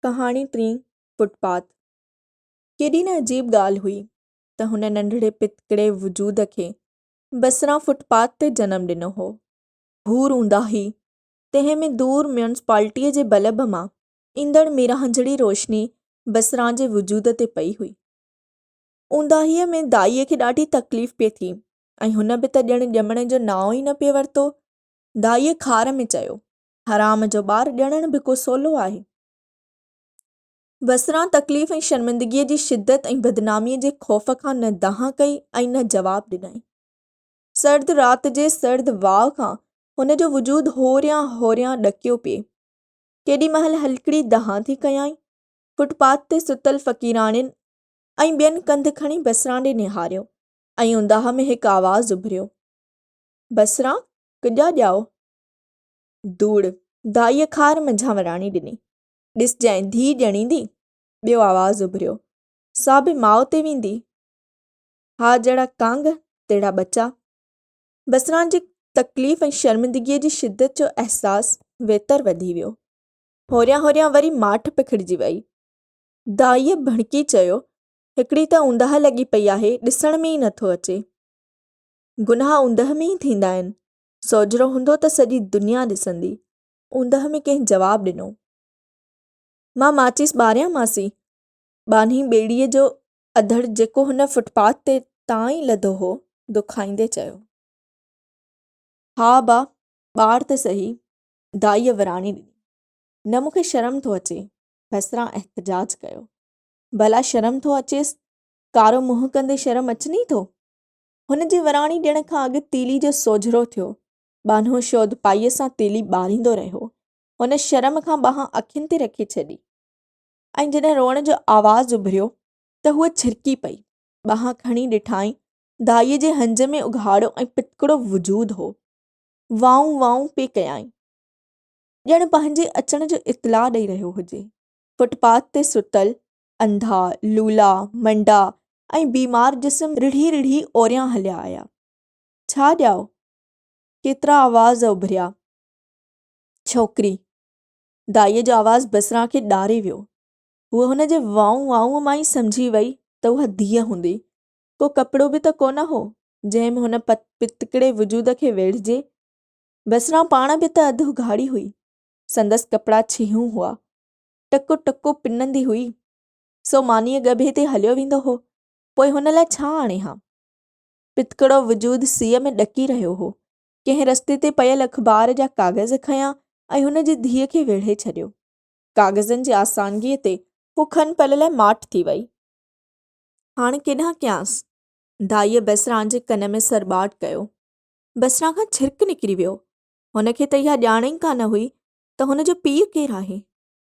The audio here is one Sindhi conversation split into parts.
ڪهاڻي ٽين فٽ پاٿ ڪيڏي نه عجيب ڳالهه هئي ته هن ننڍڙي پتڪڙي وجود کي بسران فٽ پاٿ تي جنم ڏنو هو. ڀور اونداهي، تنهن ۾ دور ميونسپالٽيء جي بلب مان ايندڙ ميرانجهڙي روشني بسران جي وجود تي پئي هئي. اونداهيء ۾ دائيء کي ڏاڍي تڪليف پئي ٿي ۽ هن به ته ڄڻ ڄمڻ جو نانء ئي نه پئي ورتو. دائيء خار ۾ چيو. حرام جو ٻار ڄڻڻ به ڪو سولو آهي. بصرا تڪليف ۽ شرمندگيء جي شدت ۽ بدناميء جي خوف کان نه دانهن ڪئي ۽ نه جواب ڏنائين. سرد رات جي سرد واء کان هن جو وجود هوريان هوريان ڏڪيو پيئي. ڪيڏي مهل هلڪڙي دانهن ٿي ڪيائين. فٽ پاٿ تي ستل فقيراڻين ۽ ٻين ڪنڌ کڻي بصرا ڏي نهاريو ۽ اونداهه ۾ هڪ آواز اڀريو، بصرا، ڪڄا ڄائو! ڌوڙ دائيء خار منجهان وراڻي ڏني. ڏسجانء ڌيء ڄڻيندي. ٻيو آواز اڀريو. سا به ماء تي ويندي. ها جهڙا ڪانگ، تهڙا ٻچا. بسران جي تڪليف ۽ شرمندگيء جي شدت جو احساس ويتر وڌي ويو. هوريان هوريان وري ماٺ پکڙجي ويئي. دائيء ڀڻڪي چيو، هڪڙي ته اونداهه لڳي پئي آهي، ڏسڻ ۾ ئي نه ٿو اچي. گناهه اونداهه ۾ ئي ٿيندا آهن. سوجهرو هوندو ته سڄي دنيا ڏسندي. اوندهه ۾ ڪنهن جواب ڏنو. مان ماچيس ٻاريان ماسي. ٻانهي ٻيڙيء جو اڌڙ جيڪو هن فٽ پاٿ تي تان ئي لڌو هو، دکائيندي چيو. ها با، ٻار ته سهي. دائيء وراڻي ڏني. نه مون کي شرم ٿو اچي. بسران احتجاج ڪيو. ڀلا شرم ٿو اچيس؟ ڪارو منهن ڪندي شرم اچني ٿو؟ هن جي وراڻي ڏيڻ کان اڳ تيلي جو سوجهرو ٿيو. ٻانهو شود پائيء سان تيلي ٻاريندو رهيو. هن شرم کان ٻانهن اکين تي رکي ڇڏي ۽ جڏهن روئڻ جو آواز اڀريو ته هوء ڇرڪي پئي. ٻانهن کڻي ڏٺائين، دائيء جي هنج ۾ اگهاڙو ۽ پتڪڙو وجود هو. وائون وائون پئي ڪيائين. ڄڻ پنهنجي اچڻ جو اطلاع ڏئي رهيو هجي. فٽ پاٿ تي ستل انڌا، لولا، منڊا ۽ بيمار جسم رڙهي رڙهي اوريان هليا آيا. ڇا ڄائو، ڪيترا آواز اڀريا. ڇوڪري، دائيء جو آواز بصرا کي ڏاري ويو. هوء هن جي وائون وائون مان ئي سمجهي وئي ته اها ڌيء هوندي. ڪو ڪپڙو به ته ڪونه هو، جنهن ۾ هن پتڪڙي وجود کي ويڙهجي. بصرا پاڻ به ته اڌ اگهاڙي هئي. سندس ڪپڙا ڇيهون هئا. ٽڪو ٽڪو پنندي هئي، سو مانيء ڳڀي تي هليو ويندو هو، پوء هن لاء ڇا آڻي ها؟ پتڪڙو وجود سيء ۾ ڏڪي رهيو هو. ڪنهن رستي تي پيل اخبار جا ڪاغذ کنيا ۽ هن جي ڌيء کي ويڙهي ڇڏيو. ڪاغذن جي آسانگيء تي هو کن پل لاء ماٺ ٿي ويئي. هاڻ ڪيڏانهن ڪيانس؟ دائيء بسران جي ڪن ۾ سرٻاٽ ڪيو. بسران کان ڇرڪ نڪري ويو. هن کي ته اها ڄاڻ ئي ڪانه هئي ته هن جو پيء ڪير آهي؟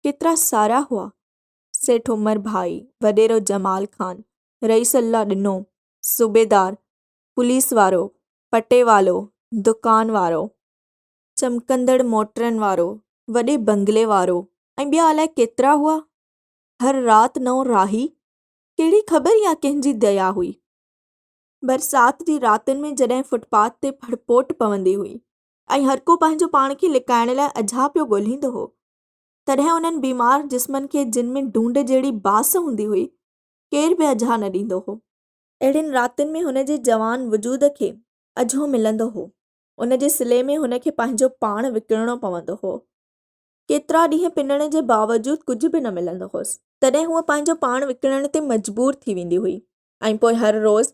ڪيترا سارا هئا؟ سيٺ عمر ڀائي، وڏيرو جمال خان، رئيس الله ڏنو، صوبيدار، پوليس وارو، پٽيوالو، دڪان وارو، چمڪندڙ موٽرن وارو، وڏي بنگلي وارو ۽ ٻيا الائي ڪيترا هئا. هر رات نئون راهي، ڪهڙي خبر يا ڪنهن جي ديا هئي. برسات جي راتن ۾ جڏهن فٽپاٿ تي ڦڙپوٽ پوندي هئي ۽ هرڪو پنهنجو پاڻ کي لڪائڻ لاء اجها پيو ڳولهيندو هو. تڏهن انهن بيمار جسمن کي جن ۾ ڊونڊ جهڙي بانس هوندي هئي، ڪير به اجها نه ڏيندو هو. اهڙين راتين ۾ هن جي جوان وجود کي اجهو ملندو هو. ان جي صلي ۾ هن کي پنهنجو پاڻ وڪڻڻو پوندو هو. ڪيترا ڏينهن پنڻ جي باوجود ڪجهه به نه ملندو هوس. تڏهن هوء پنهنجو پاڻ وڪڻڻ تي مجبور ٿي ويندي هئي ۽ پوء هر روز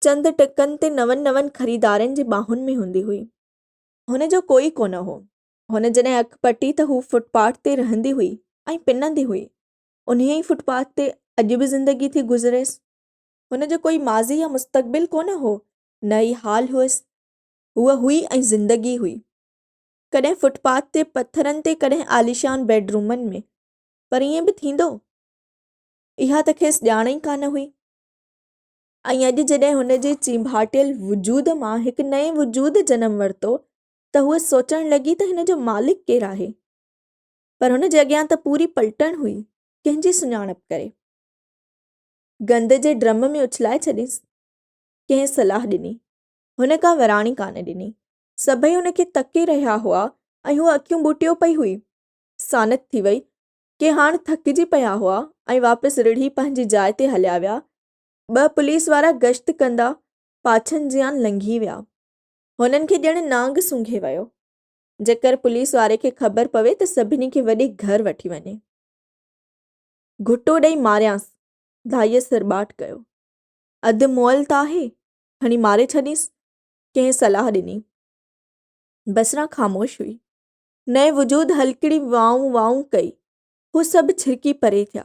چند ٽڪن تي نون نون خريدارن جي ٻانهن ۾ هوندي هئي. هن جو ڪوئي ڪونه هو. هن جڏهن اک پٽي ته هو فٽ پاٿ تي رهندي هئي ۽ پنندي هئي. انهيء ئي فٽ پاٿ تي اڄ به زندگي ٿي گذريس. هن جو ڪوئي ماضي يا مستقبل ڪونه هو، نه ئي حال هئس. هوء هئي ۽ زندگي هئي. ڪڏهن فٽ پاٿ تي پٿرن تي ڪڏهن عاليشان بيڊ رومن ۾. پر ائين به ٿيندو؟ اها ته کيس ڄاڻ ئي ڪانه هئي. ۽ اڄ جڏهن هن جي چينڀاٽيل وجود مان هڪ نئين وجود جنم ورتو ته هوء سوچڻ لڳي ته هن جو مالڪ ڪير آهي؟ پر هن جي اڳيان ته پوري پلٽڻ هئي، ڪنهن جي سڃاڻپ ڪري؟ گند جي ڊرم ۾ اڇلائي ڇڏينس؟ ڪنهن صلاح ڏني؟ هن ڪا وراڻي ڪانه ڏني. سڀئي هن کي تڪي رهيا هئا ۽ هوء اکيون ٻوٽيو پئي هئي. سانت ٿي وئي. ڪي هاڻ ٿڪجي پيا هئا ۽ واپس رڙهي پنهنجي جاء تي هليا ويا ٻه پوليس وارا گشت ڪندا پاڇن جيان لنگهي ويا. هنن کي ڄڻ نانگ سونگهي ويو. جيڪر پوليس واري کي خبر پوي ته سڀني کي وڏي گهر وٺي وڃي. گهٽو ڏئي ماريانس، ڌائيء سرٻاٽ ڪيو. اڌ مئل ته آهي، هڻي ماري ڇڏينس، ڪنهن صلاح ڏني. بسران خاموش هئي. نئين وجود هلڪڙي وائون وائون ڪئي. هو سڀ ڇرڪي پري ٿيا.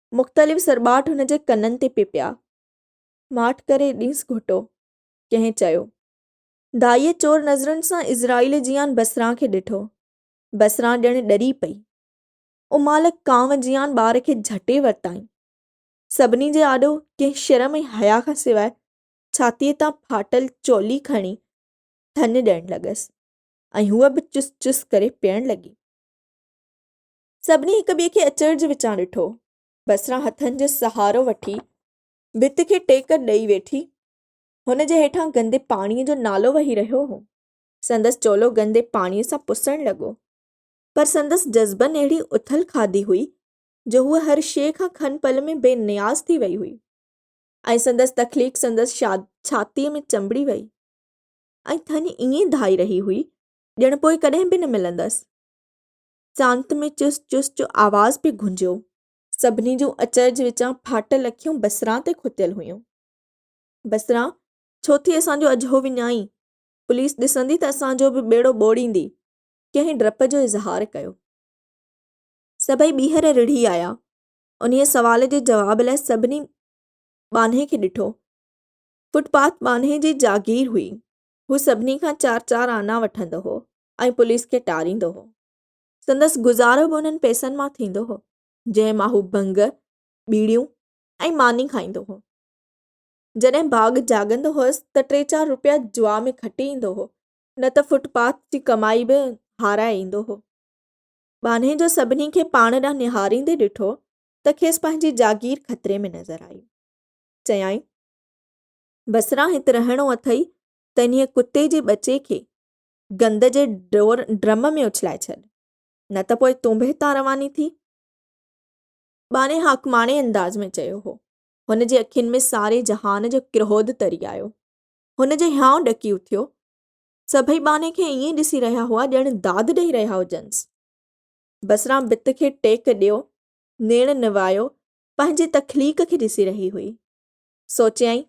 مختلف سرٻاٽ هن جي ڪنن تي پئي پيا. ماٺ ڪري ڏينس گهوٽو. ڪنهن چيو. دائيء چور نظرن سان عزرائيل جيان بسران کي ڏٺو. بسران ڄڻ ڏري پئي. امال ڪانء جيان ٻار کي جهٽي ورتائين. سڀني جي آڏو ڪنهن شرم ۽ حياء کان سواء ڇاتيء تان ڦاٽل چولي کڻي ٿڃ ڏيڻ لڳس ۽ هوء به چس چس ڪري پيئڻ لڳي. سڀني هڪ ٻئي کي اچرج وچان ڏٺو. بصرا هٿن جو سهارو وٺي ڀت کي ٽيڪ ڏئي ويٺي. هن جي هيٺان گندي پاڻيء جو نالو وهي رهيو هو. سندس چولو گندي پاڻيء سان پسڻ لڳو. پر سندس جذبن اهڙي اٿل کاڌي هئي جو هوء هر شيء کان کن پل ۾ بي نياز ٿي وئي هئي ۽ سندس تخليق سندس ڇاتيء ۾ چنبڙي وئي ۽ ٿڃ ائين ڌائي رهي هئي ڄڻ پوء ڪڏهن به نه ملندس. سانت ۾ چس چس جو آواز پئي گونجيو. سڀني جون اچرج وچان ڦاٽل اکيون بصران تي کتيل هيون. بصران، ڇو ٿي اسان جو اجهو وڃائين؟ پوليس ڏسندي ته اسان جو به ٻيڙو ٻوڙيندي. ڪنهن ڊپ جو اظهار ڪيو. سڀئي ٻيهر رڙهي آيا. انهيء سوال جي جواب لاء سڀني ٻانهي کي ڏٺو. فٽ پاٿ ٻانهي جي جاگير هئي. هو سڀني کان چار چار آنا وٺندو هو. ۽ پوليس کي ٽاريندو هو. سندس گذارو به انهن پئسن مان ٿيندو هو، جنهن مان هو ڀنگ، ٻيڙيون ۽ ماني کائيندو هو. جڏهن ڀاڳ جاڳندو هوس ته ٽي چار روپيا جوا ۾ کٽي ايندو هو، نه ته فٽ پاٿ جي ڪمائي به هارائي ايندو هو. ٻانهي جو سڀني کي پاڻ ڏانهن نهاريندي ڏٺو ته کيس پنهنجي جاگير خطري ۾ نظر آئي. چيائين، بصرا هت رهڻو اٿئي ته انهيء ڪتي جي ٻچي کي گند جي ڊور ڊرم ۾ اڇلائي ڇڏ، نه ته پوء تون به هتان رواني ٿي. ٻانهي حاڪماڻي انداز ۾ چيو هو. هن جي اکين ۾ ساري جهان جو ڪروڌ تري آيو. هن جو هيانء ڏڪي اٿيو. سڀئي ٻانهي کي ائين ڏسي رهيا هئا ڄڻ داد ڏيئي رهيا هجنس. بسران ڀت کي ٽيڪ ڏيو نيڻ نوايو پنهنجي تخليق کي ڏسي رهي هئي. سوچيائين،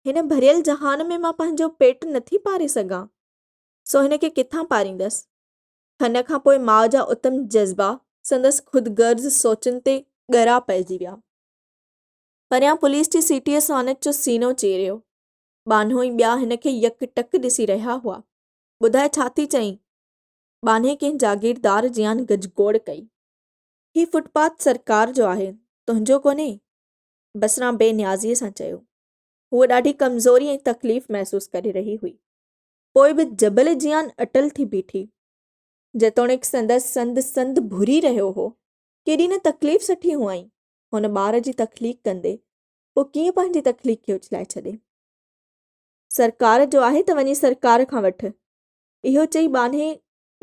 هن ڀريل جهان ۾ مان پنهنجو پيٽ نٿي پاري سگهان. سو هن کي ڪٿان پاريندس؟ هن کان پوء ماء جا اتم جذبا سندس خود غرض سوچن تي ڳرا پئجي ويا. پريان پوليس جي سيٽيء سانچ جو سينو چيريو. ٻانهو ۽ ٻيا هن کي يڪ ٽڪ ڏسي رهيا هئا. ٻڌاء ڇا ٿي چئين؟ ٻانهي ڪنهن جاگيردار جيان گجگوڙ ڪئي. هي فوٽ پاٿ سرڪار جو آهي، تنهنجو ڪونهي؟ بصران بي نيازيء سان چيو. هوء ڏاڍي ڪمزوري ۽ تڪليف محسوس ڪري رهي هئي. پوء به جبل جيان اٽل ٿي بيٺي. جيتوڻيڪ سندس سنڌ سنڌ ڀري رهيو هو. ڪيڏي نه تڪليف سٺي هئائين هن ٻار جي تخليق ڪندي، پوء ڪيئن پنهنجي تخليق کي اڇلائي ڇڏي. سرڪار جو آهي ته وڃي سرڪار کان وٺ. اهو چئي ٻانهي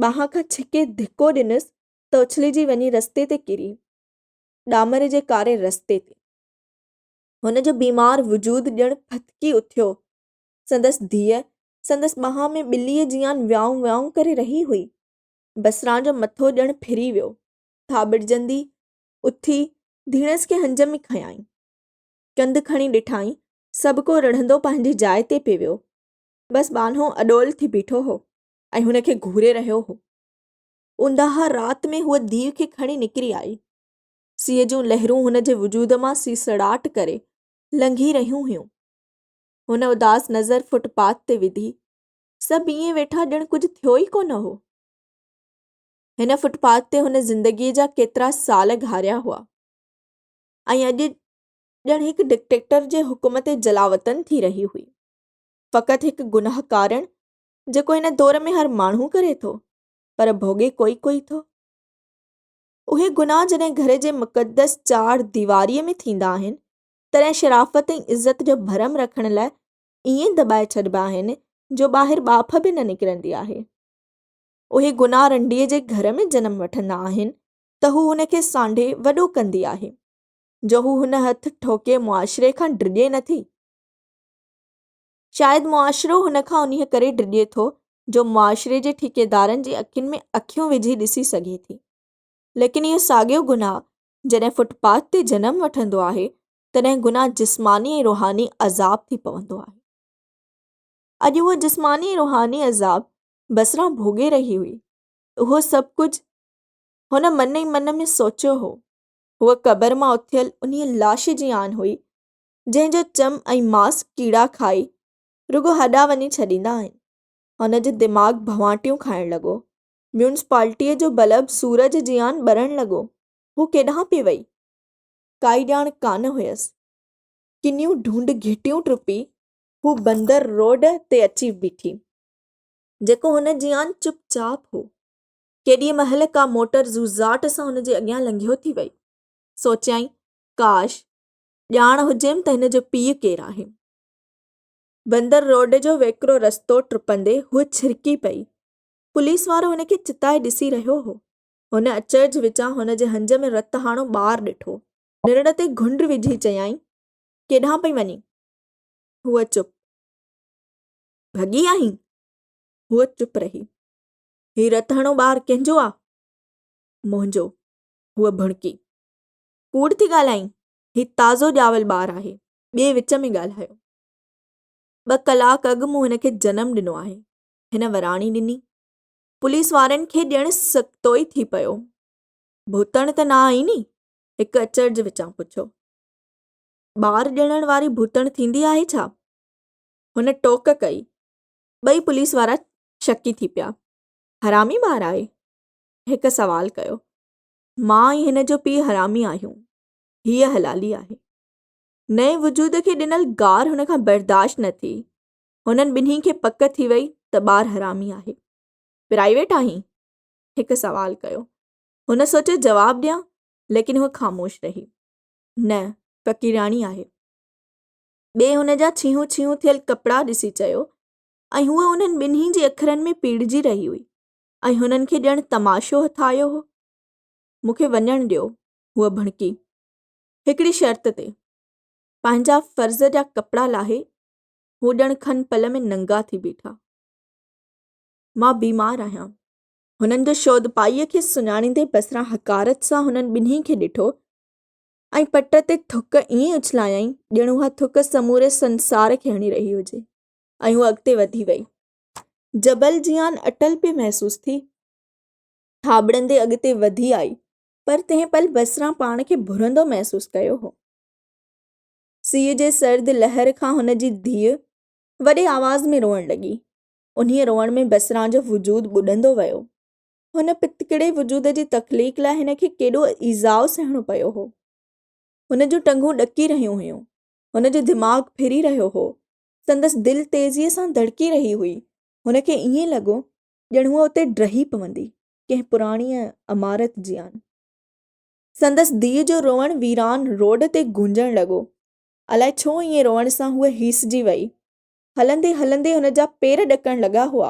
ٻانهن کان ڇڪي ڌڪو ڏنس ته اڇلجي وڃي رستي تي ڪري. ڏامر جي ڪاري رستي تي. هن جو بيمار وجود ڄڻ ڦٿڪي اٿيو سندس ڌيء سندس ٻانهن ۾ ٻليء جيان ويائون ويائون ڪري رهي هئي. بسران جو مٿو ڄڻ ڦري ويو. ٿاٻڙجندي اٿي ڌيڻس کي هنج ۾ کنيائين. ڪنڌ کڻي ڏٺائين، سڀ ڪو رڙهندو پنهنجي جاء تي پئي ويو. بس ٻانهو اڏول ٿي بيٺو هو ۽ هن کي گهوري رهيو هو. اونداهه رات ۾ هوء ڌيء کي کڻي نڪري آئي. سيء جون لهرون هن جي وجود مان سيسڙاٽ ڪري لنگهي رهيون هيون. هن اداس نظر فٽ پاٿ تي وڌي. سڀ ائين ويٺا ڄڻ ڪجهه ٿيو ئي ڪونه هو. هن فٽ پاٿ تي هن زندگيء جا ڪيترا سال گهاريا هئا ۽ اڄ ڄڻ هڪ ڊڪٽيڪٽر جي حڪم تي جلاوطن ٿي رهي هئي. فقط هڪ گناهه ڪارڻ جيڪو هن دور ۾ هر ماڻهو ڪري ٿو پر ڀوڳي ڪوئي ڪوئي ٿو. اهي گناهه جڏهن گهر جي مقدس چار ديواريء ۾ ٿيندا آهن تڏهن شرافت ۽ عزت جو ڀرم رکڻ لاء ائين دٻائي ڇڏبا آهن جو ٻاهر ٻاڦ به نه نڪرندي آهي. اهي گناهه رنڊيء جي گهر ۾ جنم وٺندا آهن ته هو هن کي سانڍي وڏو ڪندي آهي جو هو هن هٿ ٺوڪي معاشري کان ڊڄي نه ٿي. شايد معاشرو هن کان انهيء ڪري ڊڄي ٿو جو معاشري جي ٺيڪيدارن جي اکين ۾ اکيون وجهي ڏسي سگهي ٿي. ليڪن اهو ساڳيو گناهه جڏهن فٽ پاٿ تي جنم وٺندو آهي تڏهن گناهه جسماني ۽ روحاني عذاب ٿي پوندو آهي اڄ اهو جسماني ۽ روحاني عذاب بصرا ڀوڳي رهي هئي اهو سڀ ڪجهه هن من ئي من ۾ سوچيو هو هوء قبر مان اٿيل انهي لاش جي آن هئي جنهن جو چم ۽ ماس ڪيڙا کائي رڳو هڏا وڃي ڇڏيندا آهن هن جو دماغ ڀوانٽيون کائڻ لڳو ميونسپالٽيء جو بلب سورج جيان ٻرڻ لڳو. هوء ڪيڏانهن پئي ويئي؟ ڪائي ڄاڻ ڪانه هيس. ڪنيون ڍونڍ گهٽيون ٽپي، هوء بندر روڊ تي اچي بيٺي، جيڪو هن جيان چپ چاپ هو. ڪيڏيء مهل ڪا موٽر زوزاٽ سان هن جي اڳيان لنگهيو ٿي ويئي. سوچيائين، ڪاش! ڄاڻ هجيم ته هن جو پيء ڪير آهي. بندر روڊ جو ويڪرو رستو ٽپندي هوء ڇرڪي پئي. پوليس وارو هن کي چتائي ڏسي رهيو هو. هن اچرج وچان هن جي هنج ۾ رت هاڻو ٻار ڏٺو. نرڙ تي گهنڊ وجهي چيائين، ڪيڏانهن پئي وڃين؟ هوء چپ. ڀڳي آهين؟ هوء چپ رهي. هي رت هڻو ٻار ڪنهن جو آ؟ منهنجو. هوء ڀڻڪي. ڪوڙ ٿي ڳالهائين. هي تازو ڄاول ٻار آهي. ٻئي وچ ۾ ڳالهايو. ٻه ڪلاڪ اڳ مون هن کي جنم ڏنو آهي. هن وراڻي ڏني. پوليس وارن کي ڄڻ سڪتوئي ٿي پيو. ڀوتڻ ته نه آهين ني؟ هڪ اچرج وچان پڇيو. ٻار ڄڻڻ واري ڀوتڻ ٿيندي آهي ڇا؟ هن ٽوڪ ڪئي. ٻئي پوليس وارا شڪي ٿي پيا. حرامي ٻار آهي؟ هڪ سوال ڪيو. مان ۽ هن جو پيء حرامي آهيون. هيء حلالي آهي. نئين وجود کي ڏنل گار هن کان برداشت نه ٿي. هنن ٻنهي کي پڪ ٿي وئي ته ٻار حرامي آهي. پرائيويٽ آهين؟ هڪ سوال ڪيو. هن سوچيو جواب ڏيان ليڪن هوء خاموش رهي. نه، فقيراڻي آهي. ٻئي هن جا ڇيهون ڇيهون ٿيل ڪپڙا ڏسي چيو ۽ هوء انهن ٻنهي جي اکرن ۾ پيڙجي رهي هئي ۽ هنن کي ڄڻ تماشو هٿ آيو هو. مون کي وڃڻ ڏيو، هوء ڀڻڪي. هڪڙي شرط تي. پنهنجا فرض جا ڪپڙا لاهي هو ڄڻ کن پل ۾ ننگا ٿي بيٺا. مان بيمار آهيان. هنن جو شودپائيء کي سڃاڻيندي بصرا حقارت سان هنن ٻنهي کي ڏٺو ۽ پٽ تي ٿڪ ائين اڇلايائين ڄڻ اها ٿڪ سموري سنسار کي هڻي رهي هجي ۽ هوء اڳتي وڌي وئي. جبل جيان اٽل پئي محسوس ٿي. ٿاٻڙندي اڳتي وڌي آئي پر تنهن پل بصرا پاڻ کي ڀرندو محسوس ڪيو هو. سيء جي سرد لهر کان هن جي ڌيء وڏي آواز ۾ روئڻ لڳي. انهيء روئڻ ۾ بسران جو وجود ٻڏندو ويو. هن پتڪڙي وجود جي تخليق لاء هن کي ڪيڏو ايذاء سهڻو پيو هو. هن جون ٽنگون ڏڪي رهيون هيون. هن جو دماغ ڦري رهيو هو. سندس دل تيزيء سان ڌڙڪي رهي هئي. هن کي ائين لڳو ڄڻ هوء اتي ڊهي پوندي، ڪنهن پراڻيء عمارت جيان. سندس ڌيء جو روئڻ ويران روڊ تي گونجڻ لڳو. الائي ڇو ائين روئڻ سان هوء هيسجي ويئي. هلندي هلندي هن جا پير ڏڪڻ لڳا هئا.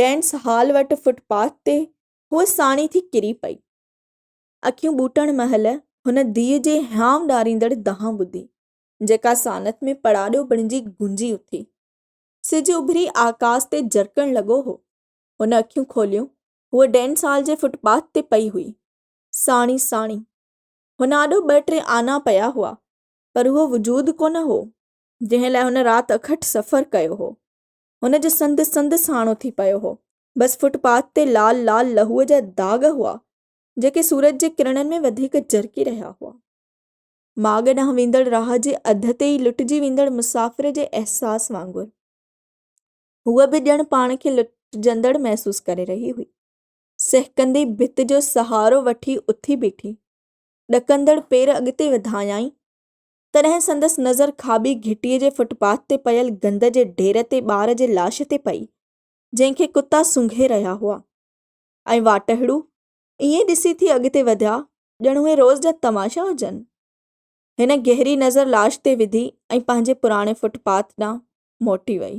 ڊينس هال وٽ فٽ پاٿ تي هوء ساڻي ٿي ڪري پئي. اکيون ٻوٽڻ مهل هن ڌيء جي هيانء ڏاريندڙ دانهن ٻڌي، جيڪا سانت ۾ پڙاڏو بڻجي گونجي اٿي. سج اڀري آڪاس تي جرڪڻ لڳو هو. هن اکيون کوليون، هوء ڊينس هال جي فٽ پاٿ تي پئي هئي. ساڻي ساڻي هن آڏو ٻه ٽي آنا پيا هئا، پر اهو وجود ڪونه هو، جنهن لاء هن رات اکٽ سفر ڪيو هو. هن جو سنڌ سنڌ ساڻو ٿي پيو هو. بس فٽ پاٿ تي لال لال لهوء جا داغ هئا، جيڪي سورج جي ڪرڻن ۾ وڌيڪ جرڪي رهيا هئا. ماڳ ڏانهن ويندڙ راهه جي اڌ تي ئي لٽجي ويندڙ مسافر جي احساس وانگر، هوء به ڄڻ پاڻ کي لٽجندڙ محسوس ڪري رهي هئي. سهڪندي ڀت جو سهارو وٺي اٿي بيٺي. ڏڪندڙ پير اڳتي وڌايائين، تڏهن سندس نظر کاٻي گهٽيء جي فٽ پاٿ تي پيل گند جي ڍير تي ٻار جي لاش تي پئي، جنهن کي ڪتا سونگهي رهيا هئا. ۽ واٽهڙو ائين ڏسي ٿي اڳتي وڌيا، ڄڻ اهي روز جا تماشا هجن. هن گهري نظر لاش تي وڌي ۽ پنهنجي پراڻي فٽ پاٿ ڏانهن موٽي وئي.